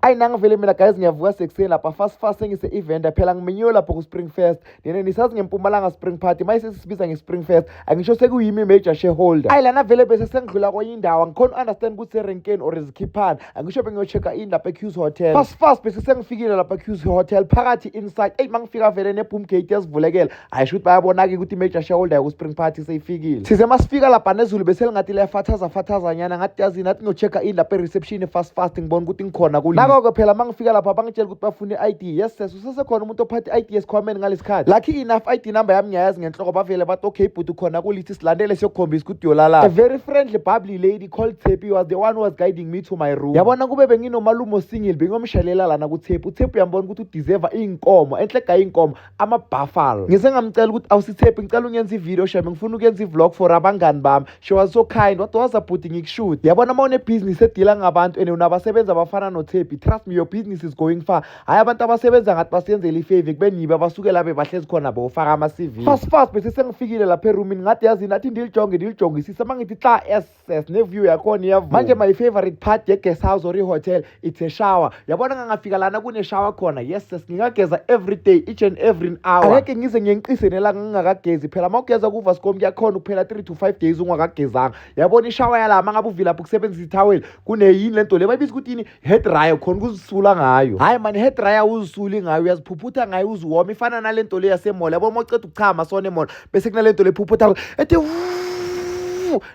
ayi nangivele mina guys ngiyavuka sekuseni lapha fast fast sengise event phela ngimenyiwe lapho ku Spring Fest nene nisazi ngempumalanga Spring Party maye sesibiza nge Spring Fest angisho sekuyimi major shareholder ayi lana vele bese sengidlula kwenye indawo angikhona understand ukuthi erenkeni or izikhiphana angisho bengiyochecka in lapha eQ's hotel fast fast bese sengifikile lapha eQ's hotel phakathi inside eyi mangifika vele ne boom gate yazivulekela hayi shuthi bayabona-ke ukuthi i-major shareholder yaku-spring party seyifikile size masifika lapha nezulu beselingathi liyafathaza fathazanyana ngathi yazini athi ngiyocheck-a ini lapha e-reception fast fast ngibona ukuthi ngikhona kuli nako-ke phela uma ngifika lapha bangitshela ukuthi bafuna i-i d yes ses usesekhona umuntu ophathe i-i d esikhwameni ngalesi khathi lucky enough i-i d number yami ngiyayazi ngenhloko bavele bathi okay bhuti khona kulithi silandele siyokukhombisa ukuthi uyolalapha a very friendly bubbly lady called tepi was the one who was guiding me to my room yabona kube benginomalume osingile bengiyomshalela lana kuthepi uthepi uyambona ukuthi udeserva iy'nkomo enhle gaye iy'nkomo ama-buffalo ngise ngamcela ukuthi awusithephi ngicela ungenza ivideo shame ngifuna ukuyenza i-vlog for abangani bami she was so kind wade waza bhuti ngikushuthi yabona uma unebhizinisi edila ngabantu and unabasebenzi abafana nothephi trust me your business is going far hhayi abantu abasebenza ngathi basiyenzela ifave kubenibe abasuke labe bahlezi khona bofaka ama-cv fast fast bese sengifikile lapha erumini ngathi yazini athi ndilijonge ndilijongisise uma ngithi xa s access neview yakhona iyavuka manje my favorite part ye-guest house or i-hotel it's a shower yabona ngangafika lana kune-shower khona yes sis ngingageza every day each and every hour angeke ngize ngenqise nelanga ngingakagezi phela uma ugeza kuvascom kuyakhona ukuphela 3 to 5 days ungakagezanga yabona ishawa yalama ngabe uvilapha ukusebenzisa ithaweli kuneyini le nto le bayibiza ukuthi yini head dryer khona ukuzisula ngayo hayi mani head dryer uzisuli ngayo uyaziphuphutha ngayo uziwoma ifana nale nto le yasemola yabo uma uceda ukuchama sona emola bese kunale nto le phuphutha ethi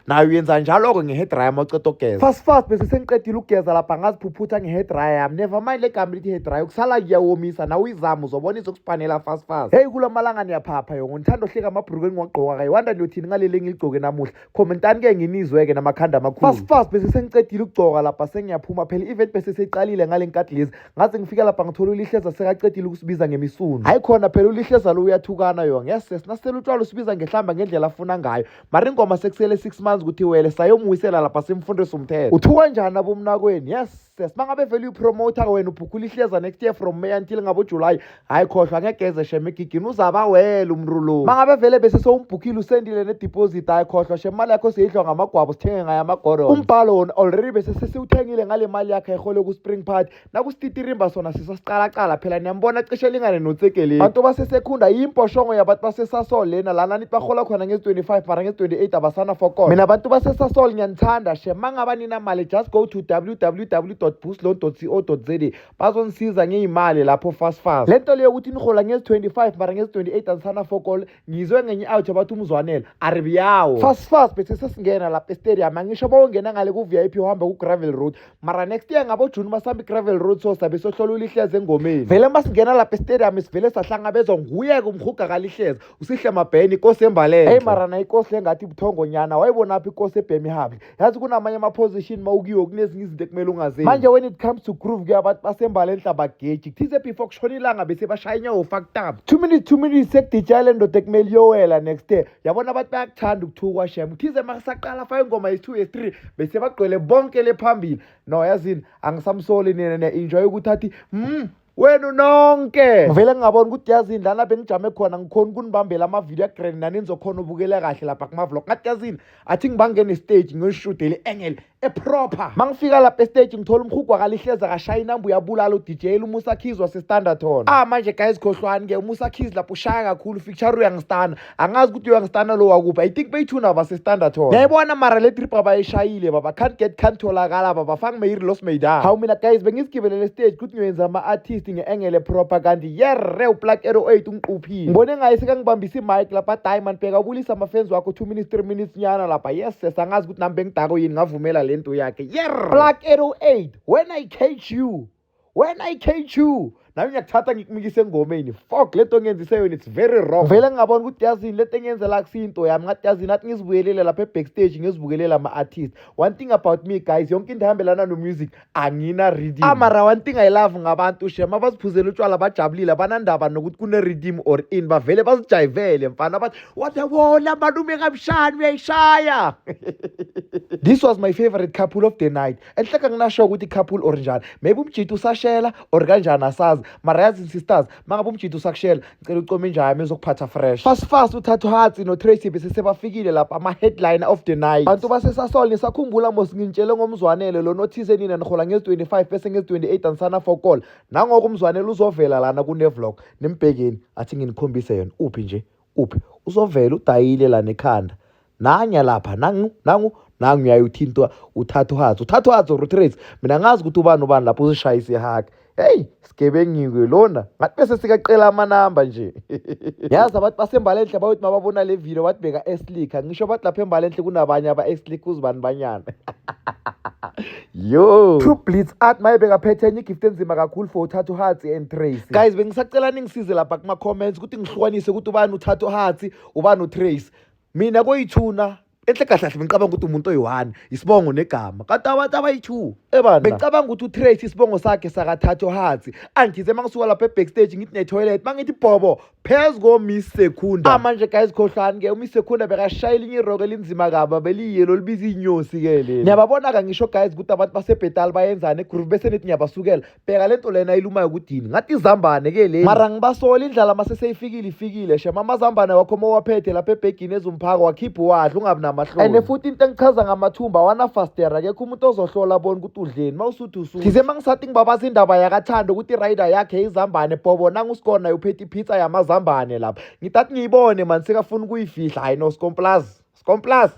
nayo uyenza njalo-ke nge-head dryer uma uceda ukugeza fast fast bese sengiqedile ukugeza lapha ngaziphuphutha nge-head dryer yami never mind le gama lithi head dryer ukusala kuyawomisa nawe uyizama uzobona izokusipanela fast fast heyi kula malanga niyaphapha yongo ngithanda ohleka amabhruku engiwagqoka kayiwanda niyothini ngaleli engiligcoke namuhla Commentani ke nginizwe ke namakhanda amakhulu. Fast fast bese sengicedile ukugcoka lapha sengiyaphuma phela event bese seqalile ngalenkathi lezi. Ngaze ngifika lapha ngithola ulihleza sekacedile ukusibiza ngemisunu. Hayi khona phela ulihleza lo uyathukana yo. Ngese sinasela utshwala usibiza ngehlamba ngendlela afuna ngayo. Mara ingoma sekusele 6 months ukuthi wele sayomwisela lapha simfundisa umthetho. Uthuka njani abomnakweni? Yes. Ses mangabe vele uyipromoter wena ubhukula ihleza next year from May until ngabo July hayi khohlwa ngegeze shem egigini uzaba wela umntu lo mangabe vele bese sowumbhukhile usendile ne deposit hayi khohlwa shem imali yakho seyidlwa ngamagwabo sithenge ngayo amagoro umbhalo wona already bese sesiwuthengile ngale mali yakhe ehole ku spring party nakustitirimba sona sisasicala cala phela niyambona cishe lingane notsegeleni bantu basesekhunda yimposhongo yabantu basesasol lena lana nithi bahola khona ngezi 25 mara ngezi 28 abasana fokona mina bantu basesasol ngiyanithanda shem mangaba nina mali just go to www boostlon co za bazongisiza ngey'mali lapho fast fast le nto leyo ukuthi nihola ngezi-25 mara ngezi-28 azisana fokol ngizwe ngenye out abathi umzwanela aribiyawo fast fast bese sesingena lapha estadium angisho bawongena ngale ku-v i p uhamba ku-gravel road mara next year ngabojuni masihamba i-gravel road so sabe sohlola ulihleza engomeni vele masingena lapha estadium sivele sahlangabezwa nguye-ke umhuga kalihleza usihle mabheni ikosi embalele eyi mara na ikosi le ngathi buthongonyana wayibonaphi ikosi ebhemi hable yazi kunamanye ama-position ma ukiwo kunezinye izinto ekumele ungazenzi manje when it comes to groove ke abantu basembala enhlabageji kuthize before kushona ilanga bese bashaya inyawo faktaba two minutes two minutes sekudijaya le ndoda ekumele iyowela next day yabona abantu bayakuthanda ukuthukwa shem kuthize ma kusaqala fa ingoma yesi-two yesi-three bese bagcwele bonke le phambili no yazini angisamsoli nina ne-enjoy ukuthi athi mm wenu nonke ngivele ngingabona ukuthi yazini lana bengijame khona ngikhona ukunibambela amavidiyo agrand nani nizokhona ubukela kahle lapha kumavlog ngathi yazini athi ngibangene stage ngiyolishudele engel eproper ma ngifika lapha estage ngithola umhugu wakalihleza kashaya inamba uyabulala udj umusa keys wasestandardton ah manje guys khohlwani-ke umusa keys lapho ushaya kakhulu ficture uyangistana angazi ukuthi uyangistanda lo wakuphi i think beyithuna basestanda thona yayibona mara le trip abayishayile baba can't get can't tholakala baba fang meyiri lost meydan hawu mina guys bengizigibelele stage kuthi ngiyoyenza ama-artist nge-engele proper kanti yerre uplak ero 8 ungiquphile ngibone ngaye sekangibambisa imike lapha diamond bheka ubulisa amafenzi wakho two minutes three minutes nyana lapha yes ses angazi ukuthi nami bengidako yini ngavumela le nto yakhe yerre plak ero 8 when i catch you wena i-KQ nayo ngiyakuthatha ngikumikise engomeni fok le nto ngenzise yona it's very wrong vele ngingabona ukuthi yazini le nto engenzela kusiyinto yami ngathi yazini athi ngizibuyelele lapha ebackstage ngizibukelele ama-artist one thing about me guys yonke into ehambelana nomusic angina-reading amara one thing i love ngabantu shem abaziphuzela utshwala bajabulile abanandaba nokuthi kune-reading or in bavele bazijayivele mfana bathi wabewona malume kamshani uyayishaya this was my favorite couple of the night enhleka nginasho ukuthi couple or njani maybe umjita usashela or kanjani asazi mara yazi insisters mangabe umjita usakushela ngicela ucome inja yami ezokuphatha fresh fast fast uthathu hatsi notracy besesebafikile lapha ama-headline of the night bantu basesasol nisakhumbula mos ngintshele ngomzwanele lona othize nina nihola ngezi-25 bese ngezi-28 anisana for call nangoko umzwanele uzovela lana kunevlog nimbhekeni athi nginikhombise yona uphi nje uphi uzovela udayile la nekhanda nanya lapha nangu nangu nangu uyayuthintwa uthatha uhazi uthatha uhazi or utrace mina ngazi ukuthi ubani ubani lapho uzishaye isihaka heyi sigebengiwe lona ngathi bese sikacela amanamba nje yazi abantu basembalenhle bayothi mababona le video bathi beka eslick ngisho bathi lapha embalenhle kunabanye aba-eslick uzibani banyana yo true blitz art maye bekaphethe enye igift enzima kakhulu for uthatha uhatsi and tracy guys bengisacela ningisize lapha kuma-comments ukuthi ngihlukanise ukuthi ubani uthatha uhatsi ubani utrace mina koyithuna enhle kahle kahle bengicabanga ukuthi umuntu oyi-one isibongo negama kanti abantu abayi-two ebana bengicabanga ukuthi utrace isibongo sakhe sakathatha uhatsi angize uma ngisuka lapha ebackstage ngithi netoilet uma ngithi bhobo phezu komiss secunda ah, manje guys khohlani ke umiss secunda bekashayela inye iroko elinzima kaba beliyelo libiza iy'nyosi ke leli niyababona-ka ngisho guys ukuthi abantu basebhetali bayenzani egroove bese nithi niyabasukela bheka le nto lena ayilumayo kudini ngathi izambane ke leli mara ngibasola indlala mase seyifikile ifikile shem amazambane wakho uma uwaphethe lapha ebhegini ezumphaka wakhipha uwadla ungabi namahloni and futhi into engichaza ngamathumba awana fastera kekho umuntu ozohlola bona ukuthi udleni udusu thize mangisathi ngibabaza indaba yakathando ukuthi irider yakhe izambane bhobo nangu usikona uphethe ipizza yamazambane lapha ngitathi ngiyibone mani sekafuna ukuyifihla hayi no scomplas scomplas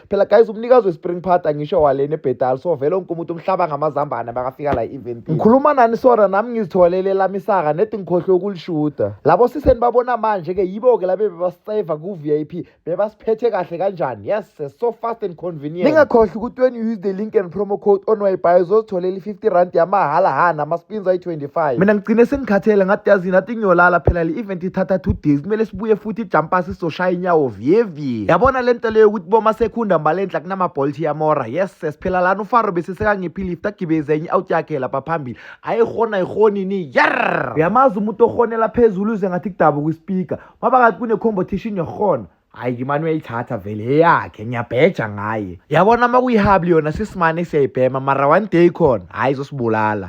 phela guys umnikazi wespring party angisho walena ebhedal so vele onke umuntu umhlaba ngamazambane bakafika la event ngikhuluma nani sora nami ngizitholele lami isaka nedi ngikhohlwe ukulishuda labo siseni babona manje ke yibo ke labe bebasave ku VIP bebasiphethe kahle kanjani yes so fast and convenient ningakhohlwa ukuthi when you use the link and promo code on wi-fi uzozitholela i-50 rand yamahhala hana ama-spins ayi-25 mina ngigcine sengikhathele ngathi yazi nathi ngiyolala phela le event ithatha two days kumele sibuye futhi ijampasi sizoshaya inyawo vyevye yabona le nto leyo ukuthi boma sekhunda mbalenhla kunama-bolt yamora yes siphela lana ufaro besesekanciphi lift agibeze enye out yakhe lapha phambili ayihona ayihoni ni yer uyamazi umuntu ohonela phezulu uze ngathi kudabuka ispeaker ngoba kathi kune-competition yokuhona hayi ngimane uyayithatha vele eyakhe ngiyabheja ngaye yabona uma kuyihabli yona sisimane siyayibhema mara one day khona hhayi izosibulala